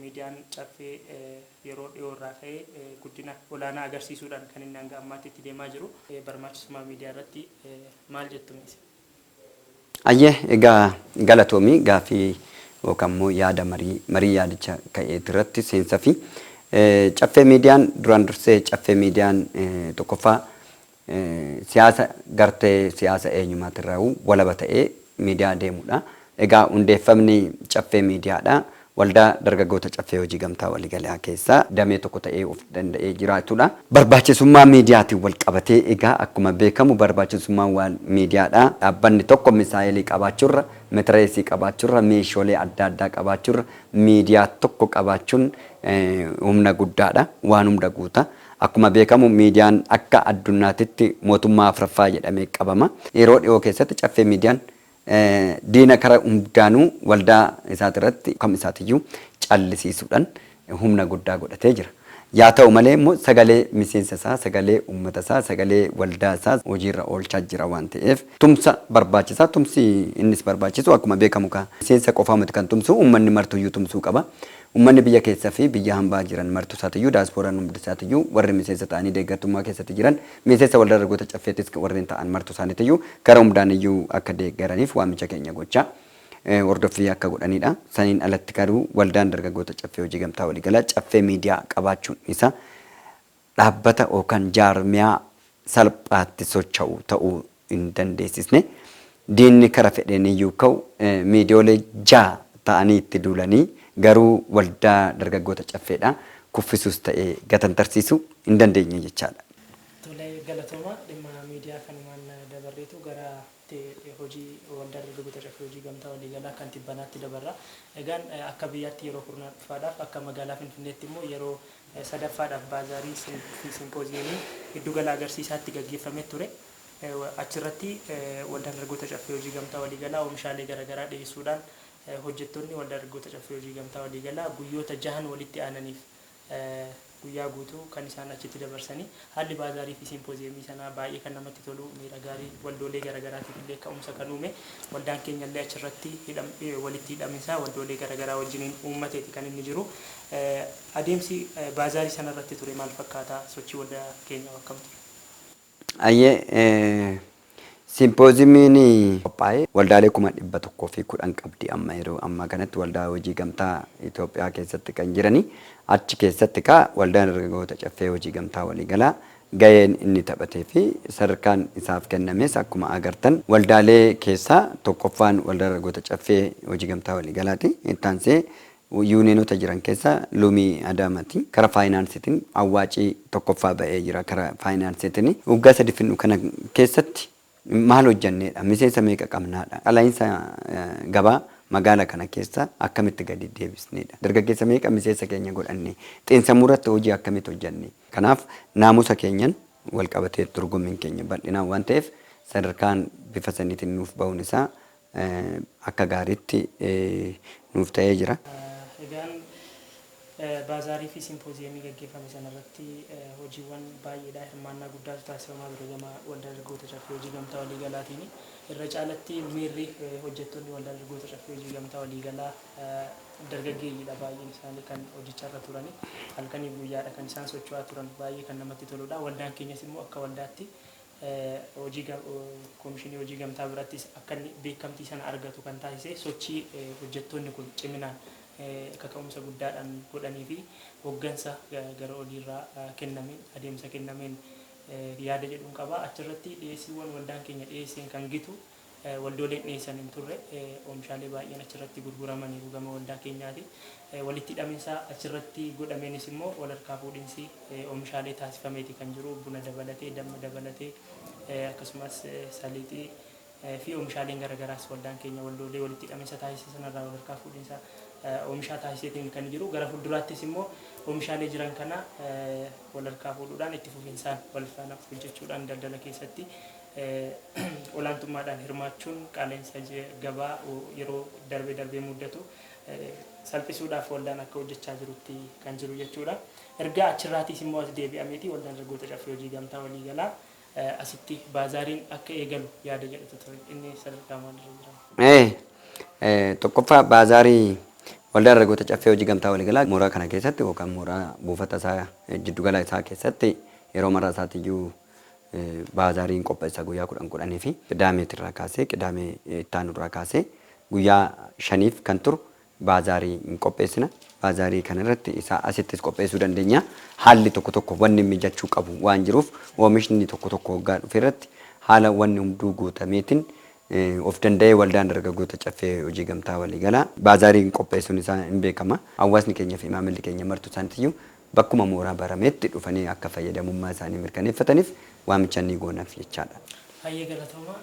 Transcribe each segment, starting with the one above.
Miidiyaan Caffee yeroo dhiyoo irraa ka'ee guddina olaanaa agarsiisuudhaan kan inni hanga ammaatti itti deemaa jiru. Barmaachisummaa miidiyaa irratti maal jettu mee isin? Hayyee egaa galatoomi gaaffii yookaan immoo yaada marii marii yaadicha ka'eeti irratti seensafi. Caffee miidiyaan duraan dursee caffee miidiyaan tokkoffaa Siyaasa gartee siyaasa eenyumaatirraahuu walaba ta'ee miidiyaa deemudha. Egaa hundeeffamni Caffee Miidiyaadha. Waldaa Dargaggoota Caffee Hojii Gamtaa Waliigalaa keessaa damee tokko ta'ee of danda'ee jiraatudha. Barbaachisummaa miidiyaatiin walqabatee egaa akkuma beekamu barbaachisummaan waal miidiyaadha. Dhaabbanni tokko misaa'eelii qabaachurra, metireesii qabaachurra, meeshoolee adda addaa qabaachurra miidiyaa tokko qabaachuun humna guddaadha. Waan hunda guuta. Akkuma beekamu miidiyaan akka addunnaatitti mootummaa afraffaa jedhamee qabama. Yeroo dhihoo keessatti Caffee Miidiyaan diina kara hundaanuu waldaa isaatirratti kam isaatiyyuu callisiisuudhan humna guddaa godhatee jira. Yaa ta'u malee immoo sagalee miseensa isaa, sagalee uummata isaa, sagalee waldaa isaa hojiirra oolchaa jira waan ta'eef tumsa barbaachisa. Tumsi innis barbaachisu akkuma beekamu kaa miseensa qofaa miti kan tumsu uummanni martuyyuu tumsuu qaba. Ummanni biyya keessa fi biyya hambaa jiran martusaatiyyuu, daasporaan humdisaatiyyuu, warri miseensa ta'anii deeggartummaa keessatti jiran, miiseensa Waldaa Dargaggoota Caffeetis warreen ta'an martusaaniitiyyuu kara humdaaniyyuu akka deeggaraniif waamicha keenya gochaa hordoffii akka godhaniidha. Saniin alatti garuu Waldaan Dargaggoota Caffee Hojii Gamtaa Waliigalaa Caffee Miidiyaa qabaachuun isaa dhaabbata yookaan jaarmiyaa salphaatti socha'u ta'uu hin dandeessisne, diinni kara fedheen iyyuu ka'u miidiyoolee ja'a ta'anii itti duulanii garuu waldaa dargaggoota Caffeedhaa kuffisuus ta'ee gatantarsiisuu hin dandeenye jechaa dha. Tole galatoomaa dhimma miidiyaa kanumaan dabarreetu gara. Itti hojii Waldaa Dargaggoota Caffee Hojii Gamtaa Waliigalaa kan tibbanaatti dabarra. Egaan akka biyyaatti yeroo kurnaffaadhaaf, akka magaalaa Finfinneetti immoo yeroo sadaffaadhaaf baazaariin fi simpooziyeemiin giddu gala agarsiisaatti gaggeeffamee ture. Achirratti Waldaan Dargaggoota Caffee Hojii Gamtaa Waliigalaa oomishaalee garagaraa dhiyeessuudhaan hojjettoonni Waldaa Dargaggoota Caffee Hojii Gamtaa Waliigalaa guyyoota jahan walitti aananiif Guyyaa guutuu kan isaan achitti dabarsani. Haalli baazaarii fi simpooziyemii sanaa baay'ee kan namatti tolu, miira gaarii waldoolee garagaraatiif illee ka'umsa kan uume, waldaan keenya illee achirratti walitti hidhaminsaa waldoolee garagaraa wajjiniin uummateeti kan inni jiru. Adeemsi baazaarii sanarratti ture maal fakkaata? Sochii waldaa keenyaho akkam ture? Hayyee Simpooziimiin qophaa'e waldaalee kuma 110 qabdi amma yeroo ammaa kanatti waldaa hojii gamtaa Itoophiyaa keessatti kan jirani achi keessatti kaa waldaan dargaggoota caffee hojii gamtaa waliigalaa gaheen inni taphatee fi sadarkaan isaaf kennames akkuma agartan waldaalee keessaa tokkoffaan waldaa dargaggoota caffee hojii gamtaa waliigalaati itti aansee Yuuniyeenota jiran keessaa Loomii Adaamati kara faayinaansiitin awwaaci tokkoffaa ba'ee jira kara faayinaansiitini. Waggaa sadi fidnu kana keessatti maal hojjanneedha? Miseensa meeqa qabnaadha? Qala'iinsa gabaa magaala kana keessa akkamitti gadi deebisneedha? Dargaggeessa meeqa miseensa keenya godhanne? Xiinsammuu irratti hojii akkamiit hojjanne? Kanaaf naamusa keenyan walqabatee dorgommiin keenya bal'inaan waan ta'eef sadarkaan bifa saniitin nuuf ba'uun isaa akka gaariitti nuuf ta'ee jira. Egaan Baazaarii fi Simpooziyemii gaggeeffame sana irratti hojiiwwan baay'eedha. Hirmaannaa guddaatu taasifamaa ture gama Waldaa Dargaggoota Caffee Hojii Gamtaa Waliigalaatiin. Irra caalatti miirri hojjettoonni Waldaa Dargaggoota Caffee Hojii Gamtaa Waliigalaa dargaggeeyyiidha baay'een isaanii kan hojjecharra turani. Halkaniif guyyaadha kan isaan socho'aa turan. Baay'ee kan namatti toludha. Waldaan keenyas immoo akka waldaatti hojii Komishinii Hojii Gamtaa birattis akka inni beekamtii sana argatu kan taasise sochii hojjettoonni kun ciminaan kaka'umsa guddaadhaan godhanii fi hoggansa gara oliirraa kennameen adeemsa kennameen yaada jedhun qaba. Achirratti dhiyeessiiwwan waldaan keenya dhiyeesseen kan gitu Waldooleen dhiyeessan hin turre. Oomishaalee baay'een achirratti gurguramaniiru gama waldaa keenyaatiin. Walitti hidhaminsa achirratti godhameenis immoo walharkaa fuudhinsi oomishaalee taasifameeti kan jiru. Buna dabalatee, damma dabalatee, akkasumas saliixii fi oomishaaleen garagaraas waldaan keenya waldoolee walitti hidhaminsa taasise sanarraa walharkaa fuudhinsa oomishaa taasiseetiin kan jiru. Gara fuulduraattis immoo oomishaalee jiran kana walharkaa fuudhuudhaan itti fufinsaan walfaana hojjechuudhaan daldala keessatti olaantummaadhaan hirmaachuun qaala'insa gabaa yeroo darbee darbee muddatu salphisuudhaaf waldaan akka hojjechaa jirutti kan jiru jechuudha. Erga achirraatiis immoo as deebi'ameeti waldaan dargaggoota caffee hojii gamtaa waliigalaa asitti baazaariin akka eegalu yaada jedhutu ture. Inni sadarkaa maalirra jira? Tokkoffaa baazaarii waldaa dargaggoota caffee hojii gamtaa waliigalaa mooraa kana keessatti yookaan mooraa buufata isaa jiddugala isaa keessatti yeroo marraa isaatiyyuu Baazaariin qopheessaa guyyaa kudhan kudhanii fi Qidaameeti irraa kaasee Qidaamee itti aanu irraa kaasee guyyaa shaniif kan turu baazaarii hin qopheessina. Baazaarii kana irratti isaa asittis qopheessuu dandeenya. Haalli tokko tokko wanni mijachuu qabu waan jiruuf oomishni tokko tokko hoggaa dhufe irratti haala wanni hunduu guutameetiin of danda'ee Waldaan Dargaggoota Caffee Hojii Gamtaa Waliigalaa baazaariin qopheessuun isaa hin beekama. Hawwaasni keenya fi maamilli keenya martuu isaaniitiyyuu bakkuma mooraa barameetti dhufanii akka fayyadamummaa isaanii mirkaneeffataniif waamicha ni goonaf jechaadha. Hayyee galatooma.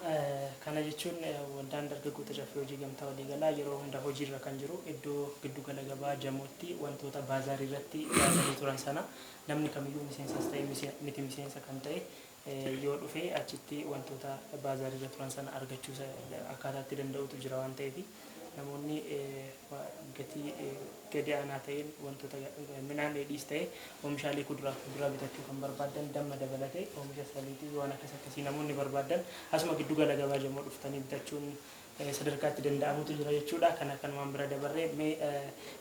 Kana jechuun Waldaan Dargaggoota Caffee Hojii Gamtaa Waliigalaa yeroo hunda hojiirra kan jiru iddoo giddu gala gabaa Jamootti wantoota baazaarii irratti dhiyaatanii turan sana namni kamiyyuu miseensas ta'e miti miseensa kan ta'e yoo dhufe achitti wantoota baazaariirra turan sana argachuusa akkaataa itti danda'utu jira waan ta'eef namoonni gatii gadi aanaa ta'een wantoota midhaan dheedhiis ta'e oomishaalee kuduraaf kuduraa bitachuu kan barbaadan damma dabalatee oomisha saliitii waan akkas akkasii namoonni barbaadan asuma giddu gala gabaa jamoo dhuftanii bitachuun sadarkaa itti danda'amutu jira jechuudha. Kana kanumaan bira dabarree mee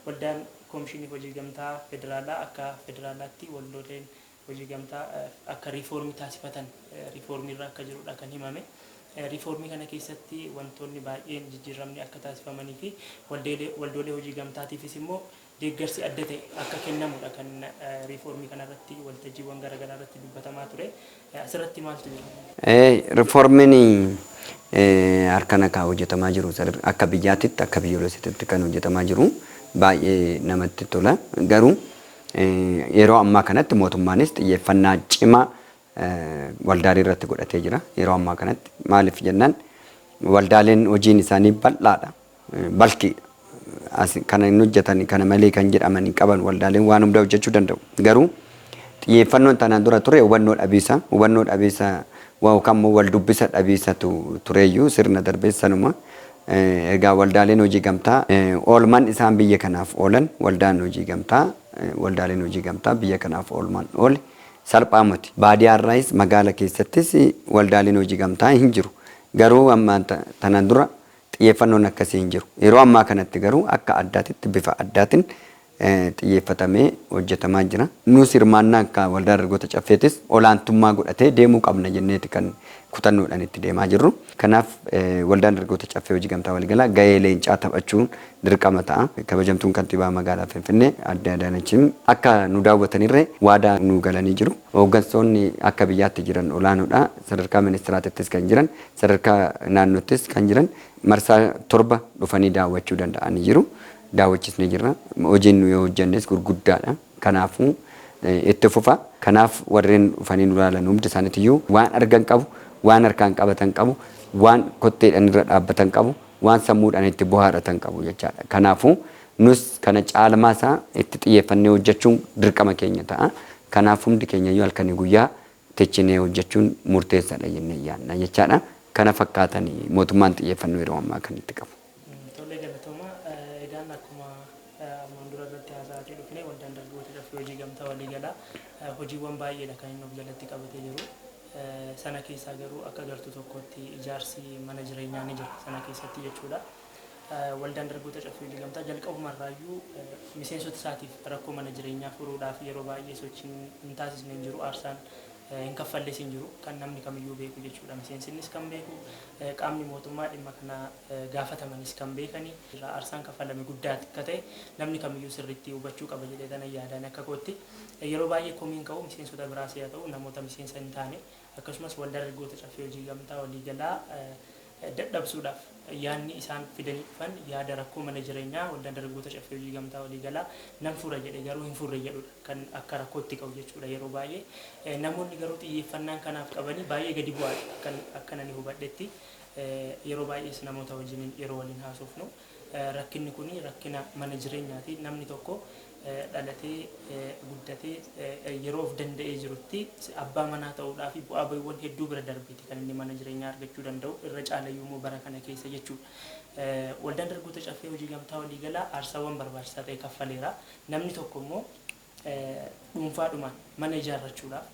waldaan koomishinii hojii gamtaa federaalaa akka federaalaatti waldooleen hojii gamtaa akka riifoormii taasifatan riifoormii irra akka jiru dha kan himame. Riifoormii kana keessatti wantoonni baay'een jijjiirramni akka taasifamanii fi waldoolee hojii gamtaatiifis immoo deeggarsi adda ta'e akka kennamu dha kan riifoormii kana irratti waltajjiiwwan garaagaraa irratti dubbatamaa ture. Asirratti maaltu jira? Riifoormiin harkaan akka hojjetamaa jiru akka biyyaatitti akka biyyoolessatitti kan hojjetamaa jiru baay'ee namatti tola. Garuu Yeroo ammaa kanatti mootummaanis xiyyeeffannaa cimaa waldaalee irratti godhatee jira. Yeroo ammaa kanatti maaliif jennaan waldaaleen hojiin isaanii bal'aadha. Balkiidha. As kana hin hojjetan kana malee kan jedhaman hin qaban waldaaleen waan hundaa hojjechuu danda'u. Garuu xiyyeeffannoon tanaan dura ture hubannoo dhabiisa. Hubannoo dhabiisa yookaan immoo wal dubbisa dhabiisatu tureeyyuu sirna darbees sanuma. Egaa waldaaleen hojii gamtaa oolman isaan biyya kanaaf oolan waldaan hojii gamtaa waldaaleen hojii gamtaa biyya kanaaf oolman oole salphaa moti baadiyaa irraayis magaala keessattis waldaaleen hojii gamtaa hin jiru garuu ammaan tana dura xiyyeeffannoon akkasii hin jiru yeroo ammaa kanatti garuu akka addaatitti bifa addaatin xiyyeeffatamee hojjetamaa jira. Nuus hirmaannaa akka Waldaa Dargaggoota Caffeetis olaantummaa godhatee deemuu qabna jenneeti kan kutannoodhaan itti deemaa jirru. Kanaaf Waldaan Dargaggoota Caffee Hojii Gamtaa Waliigalaa gahee leencaa taphachuun dirqama ta'a. Kabajamtuun Kantiibaa Magaalaa Finfinnee Aadde Adaanachim akka nu daawwatanirree waadaa nuu galanii jiru. Hooggansoonni akka biyyaatti jiran olaanoodha. Sadarkaa Ministiraatittis kan jiran, sadarkaa naannoottis kan jiran marsaa 7 dhufanii daawwachuu danda'anii jiru. daawwachisne jirra. Hojiin nuyi hojjannes gurguddaadha. Kanaafuu itti fufa. Kanaaf warreen dhufanii nu ilaalan hundi isaaniitiyyuu waan argan qabu, waan harkaan qabatan qabu, waan kotteedhaan irra dhaabbatan qabu, waan sammuudhaan itti bohaaratan qabu jechaadha. Kanaafuu nus kana caalmaa isaa itti xiyyeeffannee hojjachuun dirqama keenya ta'a. Kanaaf hundi keenyayyuu halkanii guyyaa tichinee hojjachuun murteessaadha jennee yaadna jechaadha. Kana fakkaatani mootummaan xiyyeeffannoo yeroo ammaa kan itti qabu. Tole galatooma. Egaan akkuma armaan dura irratti haasa'aatii dhufne waldaan dargaggoota caffee hojii gamtaa waliigalaa hojiiwwan baay'eedha kan inni of jalatti qabatee jiru. Sana keessaa garuu akka gartuu tokkootti ijaarsi mana jireenyaa ni jira sana keessatti jechuudha. Waldaan dargaggoota caffee hojii gamtaa jalqabuma irraayyuu miseensota isaatiif rakkoo mana jireenyaa furuudhaaf yeroo baay'ee sochiin hin taasisne hin jiru aarsaan hin kaffalles hin jiru. Kan namni kamiyyuu beeku jechuudha. Miseensinnis kan beeku, qaamni mootummaa dhimma kana gaafatamanis kan beekani. Aarsaan kaffalame guddaa akka ta'e namni kamiyyuu sirriitti hubachuu qaba jedheetanan yaada ani akka kootti. Yeroo baay'ee komiin ka'u miseensota biraas yaa ta'u namoota miseensa hin taane akkasumas Waldaa Dargaggoota Caffee Hojii Gamtaa Waliigalaa dadhabsuudhaaf yaadni isaan fidanii dhufan yaada rakkoo mana jireenyaa Waldaan Dargaggoota Caffee Hojii Gamtaa Waliigalaa nan fura jedhe garuu hin furre jedhudha kan akka rakkootti ka'u jechuudha yeroo baay'ee. Namoonni garuu xiyyeeffannaan kanaaf qabanii baay'ee gadi bu'aadha akkan akkan ani hubadhetti. Yeroo baay'ees namoota wajjiniin yeroo waliin haasofnu. Rakkinni kun rakkina mana jireenyaati. Namni tokko dhalatee, guddatee yeroo of danda'ee jirutti abbaa manaa ta'uudhaafi bu'aa ba'iiwwan hedduu bira darbeeti kan inni mana jireenyaa argachuu danda'u. Irra caalayyuummoo bara kana keessa jechuudha. Waldaan Dargaggoota Caffee Hojii Gamtaa Waliigalaa aarsaawwan barbaachisaa ta'e kaffaleera. Namni tokkommoo dhuunfaadhumaan mana ijaarrachuudhaaf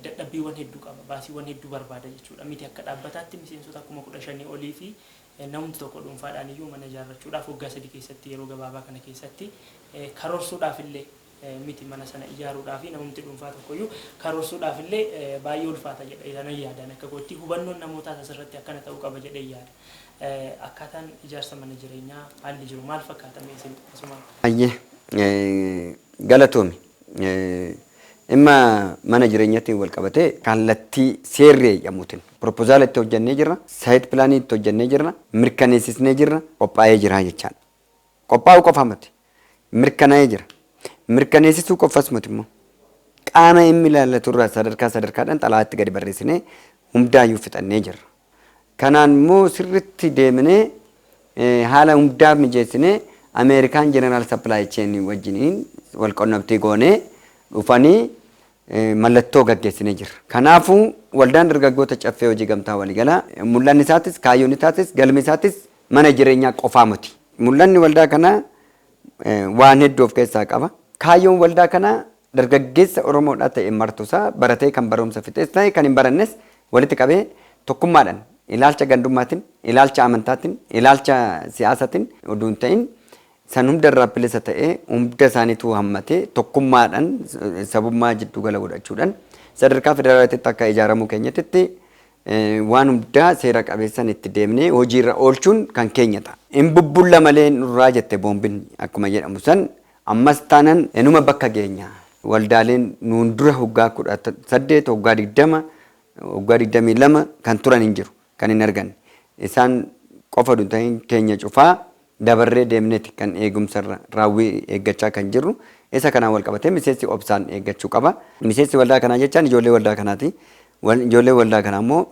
dadhabbiiwwan hedduu qaba. Baasiiwwan hedduu barbaada jechuudha. Miti akka dhaabbataatti miseensota kuma 15 oliifi Namumti tokko dhuunfaadhaan iyyuu mana ijaarrachuudhaaf waggaa sadii keessatti yeroo gabaabaa kana keessatti karoorsuudhaaf illee miti mana sana ijaaruudhaafi namumti dhuunfaa tokko iyyuu karoorsuudhaaf illee baay'ee ulfaata jedha jedhanan yaada ani akka kootti hubannoon namootaas asirratti akkana ta'uu qaba jedhee yaada akkaataan ijaarsa mana jireenyaa haalli jiru maal fakkaata mee isin asumaan Ayyee galatoomi. Dhimma mana jireenyatiin wal qabatee kallattii seerri eeyyamuutiin Piropozaala itti hojjannee jirra, saayit pilaanii itti hojjannee jirra, mirkaneessisnee jirra, qophaa'ee jira jechaadha. Qophaa'uu qofa miti. Mirkanaa'ee jira. Mirkaneessisuu qofas miti immoo. Qaama dhimmi ilaallatu irraa sadarkaa sadarkaadhaan xalayaatti gadi barreessinee hundaayyuu fixannee jirra. Kanaan immoo sirriitti deemnee haala hundaa mijeessinee Ameerikaan Jeneraal Sappilaay Cheenii wajjiniin wal qunnamtii goonee dhufanii mallattoo gaggeessinee jirra. Kanaafuu, Waldaan Dargaggoota Caffee Hojii Gamtaa Waliigalaa mul'anni isaatis, kaayyoon isaatis, galmi isaatis mana jireenyaa qofaa miti. Mul'anni waldaa kanaa waan hedduu of keessaa qaba. Kaayyoon waldaa kanaa dargaggeessa Oromoodhaa ta'e martusaa, baratee kan barumsa fixes ta'e kan hin barannes walitti qabee tokkummaadhaan ilaalcha gandummaatin, ilaalcha amantaatin, ilaalcha siyaasatin oduu hin ta'in San hunda irraa bilisa ta'ee, hunda isaaniituu hammatee, tokkummaadhan, sabummaa jiddu gala godhachuudhan, sadarkaa federaalaatitti akka ijaaramuu keenyatitti waan hundaa seera qabeessan itti deemnee hojii irra oolchuun kan keenya ta'a. Hin bubbulla malee nurraa jette boombin akkuma jedhamu san, ammas taanan inuma bakka geenya. Waldaaleen nuun dura hoggaa 18, hoggaa 20, hoggaa 22 kan turan hin jiru. kan hin arganne. Isaan qofa utuu hin ta'in keenya cufaa dabarree deemneeti kan eegumsa irra raawwii eeggachaa kan jirru. Isa kanaan wal qabatee miseensi obsaan eeggachuu qaba. Miseensi waldaa kanaa jechaan ijoollee waldaa kanaati. Ijoolleen waldaa kanaa immoo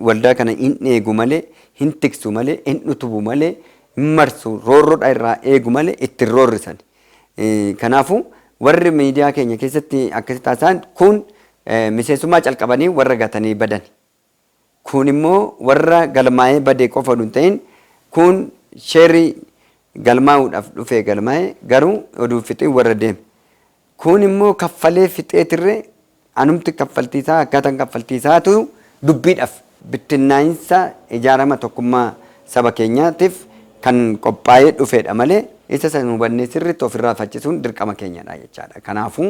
waldaa kana hin eegu malee, hin tiksu malee, hin utubu malee, hin marsu, roorroodha irraa eegu malee itti hin roorrisani. Kanaafuu warri miidiyaa keenya keessatti akkasitti haasa'an kun miseensummaa calqabanii warra gatanii badani. Kuun immoo warra galmaa'ee bade qofa odu hin ta'in kuun sheri galmaa'uudhaf dhufee galmaa'e garuu odu hin fixin warra deeme. Kuun immoo kaffalee fixee tirre anumti kaffaltii isaa akkaatan kaffaltii isaatu dubbiidhaf. Bittinnaa'insa ijaarama tokkummaa saba keenyaatif kan qophaa'ee dhufeedha malee isa san hubannee sirritti ofirraa faccisuun dirqama keenyadha jechaadha. Kanaafuu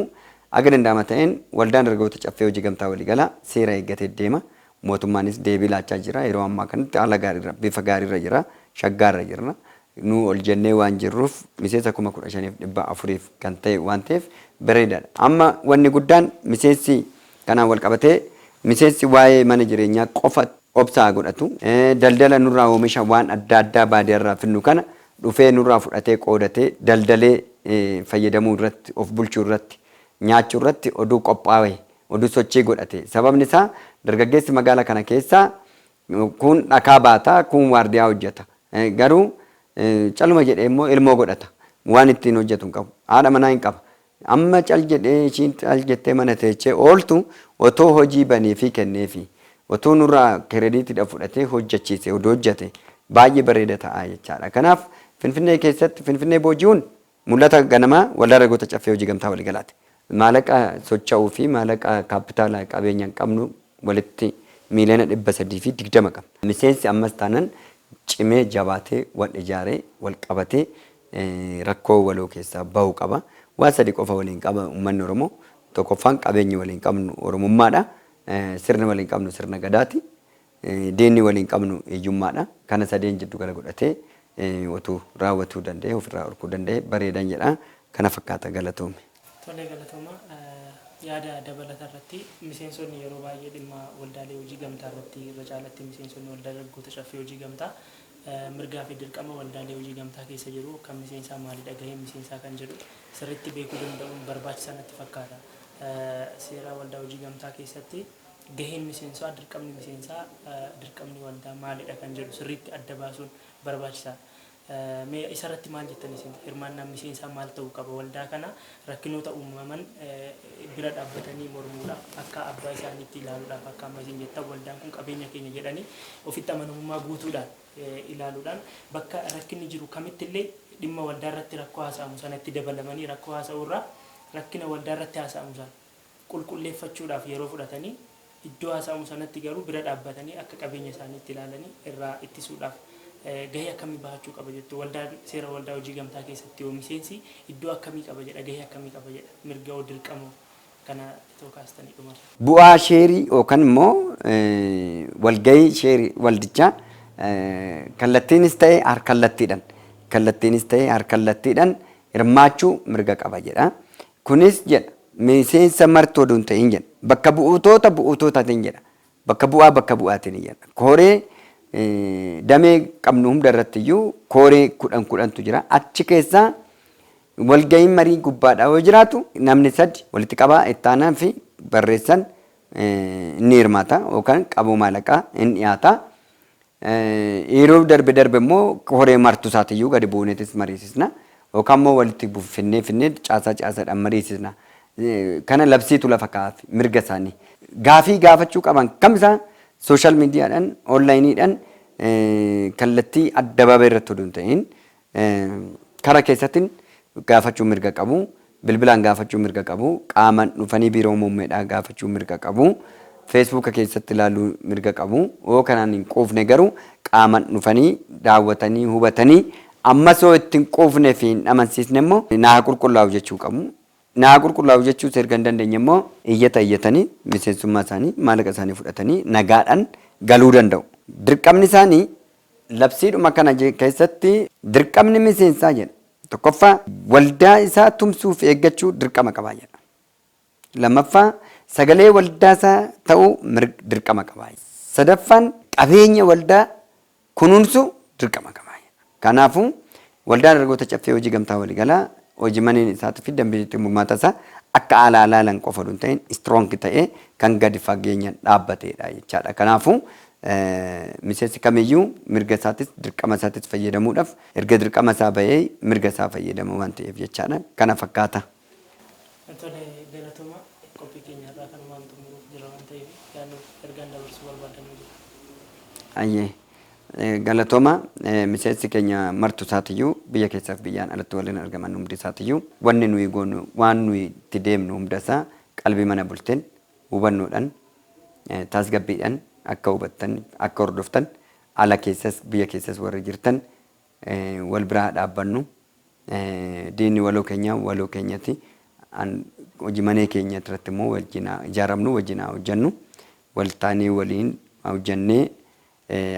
Haga danda'ama ta'een Waldaan Dargaggoota Caffee Hojii Gamtaa Waliigalaa seera eeggatee deema. Mootummaanis deebii laachaa jira. Yeroo ammaa kanatti haala gaariirra, bifa gaariirra jira. Shaggaarra jirra. Nu ol jennee waan jirruuf miseensa 15,400f kan ta'e waan ta'eef bareedaadha. Amma wanni guddaan miseensi kanaan walqabatee miseensi waa'ee mana jireenyaa qofa. obsa haa godhatu. Daldala nurraa oomisha waan adda addaa baadiyarraa fidnu kana dhufee nurraa fudhatee qoodatee daldalee fayyadamuu irratti of bulchuu irratti nyaachuu irratti oduu qophaawe oduu sochii godhate sababni isaa dargaggeessi magaala kana keessaa kuun dhakaa baata kuun waardiyaa hojjata garuu caluma jedhee immoo ilmoo godhata waan ittiin hojjatu hin qabu haadha manaa hin qaba Amma cal jedhee ishiin cal jettee mana teechee ooltu otoo hojii baneefii kenneefii, otoo nurraa kerediitidha fudhatee hojjachiise odoo hojjate baay'ee bareeda ta'a jechaadha. Kanaaf Finfinnee keessatti Finfinnee booji'uun mul'ata ganamaa Waldaa Dargaggoota Caffee Hojii Gamtaa Waliigalaati. Maalaqa socha'uu fi maalaqa kaappitaala qabeenyan qabnu walitti miiliyoona 320 qabna. Miseensi ammas taanan cimee jabaatee wal ijaaree wal qabatee rakkoo waloo keessaa bahu qaba. Waan sadi qofa waliin qaba ummanni Oromoo. Tokkoffaan qabeenyi waliin qabnu Oromummaadha. Sirni waliin qabnu sirna Gadaati. Diinni waliin qabnu hiyyummaadha. Kana sadeen jiddu gala godhatee otuu raawwatuu danda'ee ofirraa dhorkuu danda'ee bareedan jedha. Kana fakkaata galatoomi. Tole galatooma. Yaada dabalata irratti miseensonni yeroo baay'ee dhimma waldaalee hojii gamtaa irratti irra caalatti miseensonni waldaa dargaggoota caffee hojii gamtaa mirgaa fi dirqama waldaalee hojii gamtaa keessa jiru kan miseensaa maalidha gaheen miseensaa kan jedhu sirritti beekuu danda'uun barbaachisaa natti fakkaata. Seera waldaa hojii gamtaa keessatti gaheen miseensaa dirqamni miseensaa dirqamni waldaa maalidha kan jedhu sirriitti adda baasuun barbaachisaa. Mee isarratti maal jettan isin? Hirmaannaan miseensaa maal ta'uu qaba? Waldaa kana rakkinoota uumaman bira dhaabbatanii mormuudhaaf akka abbaa isaaniitti ilaaluudhaaf akka amma isin jettan waldaan kun qabeenya keenya jedhanii ofitti amanamummaa guutuudhaan ilaaluudhaan bakka rakkinni jiru kamitti illee dhimma waldaa irratti rakkoo haasa'amu sanatti dabalamanii rakkoo haasa'uu irraa rakkina waldaa irratti haasa'amu sana qulqulleeffachuudhaaf yeroo fudhatanii iddoo haasa'amu sanatti garuu bira dhaabbatanii akka qabeenya isaaniitti ilaalanii irraa ittisuudhaaf gahee akkamii bahachuu qaba jettu? Waldaan seera waldaa hojii gamtaa keessatti hoo miseensi iddoo akkamii qaba jedha? Gahee akkamii qaba jedha? Mirga hoo dirqama hoo? Kana itoo kaastanii dhumarra. Bu'aa sheerii yookan immoo walgahii sheerii waldichaa kallattiinis ta'e harkallattiidhan kallattiinis ta'e harkallattiidhan hirmaachuu mirga qaba jedha. Kunis jedha miseensa martuu odoo hin ta'iin jedha bakka bu'utoota bu'uutootatiin jedha bakka bu'aa bakka bu'aatiin jedha kooree damee qabnu hunda irratti iyyuu kooree kudhan kudhantu jira achi keessaa walga'iin marii gubbaadhaa yoo jiraatu namni sadi walitti qabaa ittaanaa fi barreessan ni hirmaata yookaan qaboo maalaqaa hin dhiyaata Yeroo darbe darbe immoo koree martuu isaatiyyuu gadi buuneetis mariisisna. Yookaan immoo walitti finnee finnee caasaa caasaadhaan mariisisna. Kana labsiitu lafa kaa'aaf mirga isaanii. Gaafii gaafachuu qaban kamisaa sooshaal miidiyaadhaan, oonlaayiniidhaan kallattii addabaabayii irratti odoo hin ta'iin Kana keessattin gaafachuu mirga qabu, bilbilaan gaafachuu mirga qabu, qaaman dhufanii biiroo muummedhaa gaafachuu mirga qabu, feesbuuka keessatti ilaaluu mirga qabu, yoo kanaan hin quufne garuu qaaman dhufanii daawwatanii hubatanii ammas yoo itti hin quufne fi hin amansiisne immoo na haa qulqullaa'u jechuu qabu. Na haa qulqullaa'u jechuus erga hin dandeenye immoo iyyata iyyatanii miseensummaa isaanii maallaqa isaanii fudhatanii nagaadhan galuu danda'u. Dirqamni isaanii Labsiidhuma kana keessatti dirqamni miseensaa jedha. Tokkoffaa, waldaa isaa tumsuu fi eeggachuu dirqama qaba jedha. Lammaffaa, sagalee waldaa isaa ta'uu dirqama qaba. Sadaffaan, qabeenya waldaa kunuunsuu dirqama qaba jedha. Kanaafuu, Waldaa Dargagoota Caffee Hojii Gamtaa Waligalaa hojimaneen isaatu fi dambiin ittiin bulmaata isaa akka alaa ilaalan qofa oduu hin ta'in strong ta'ee kan gadi fageenyan dhaabbateedha jechaadha. Kanaafuu miseensi kamiyyuu mirga isaatis dirqama isaatis fayyadamuudhaf erga dirqama isaa ba'ee mirga isaa fayyadama waan ta'eef jechaadha. Kana fakkaata. Tole galatoomaa. Qophii keenya har'aa kanumaan xumuruuf jirra waan ta'eef yaada nuuf ergaan dabarsuu barbaaddan yoo jira. Hayyee. Galatooma miseensi keenya martu isaatiyyuu biyya keessaas biyyaan alatti warreen argaman hundi isaatiyyuu wanni nuyi goonu waan nuyi itti deemnu hunda isaa qalbii mana bulteen hubannoodhaan tasgabbiidhaan akka hubattan akka hordoftan ala keessas biyya keessas warri jirtan wal bira haa dhaabbannu diinni waloo keenya waloo keenyati an hojii manee keenya irratti immoo wajjin haa ijaaramnu wajjin haa hojjannu wal taanee waliin hojjannee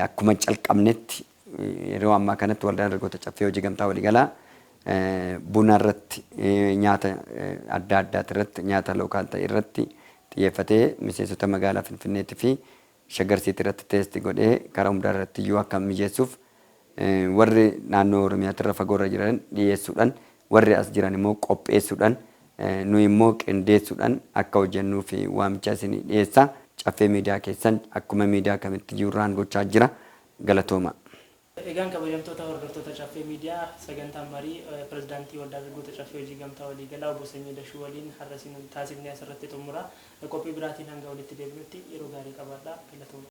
akkuma calqabnetti yeroo ammaa kanatti waldaan dargaggoota caffee hojii gamtaa waliigalaa buna irratti nyaata adda addaati irratti nyaata lookaal ta'e irratti xiyyeeffatee miseensota magaalaa finfinneetti fi Shaggar City irratti test godhee karaa hundaa irratti iyyuu akka mijeessuuf warri naannoo Oromiyaatti irra fagoo irra jiran dhiyeessuudhaan warri as jiran immoo qopheessuudhaan nuyi immoo qindeessuudhaan akka hojjennuuf waamicha isinii dhiyeessa. Caffee Miidiyaa keessan akkuma miidiyaa kamitti iyyuu irraan gochaa jira. Galatoomaa. Egaan kabajamtoota hordoftoota Caffee Miidiyaa, sagantaan marii Pirezidaantii Waldaa Dargaggoota Caffee Hojii Gamtaa Waliigalaa Obbo Sanyii Dashuu waliin har'a isin taasifne asirratti xumura. Qophii biraatiin hanga walitti deebinutti yeroo gaarii qabaadhaa. Galatoomaa!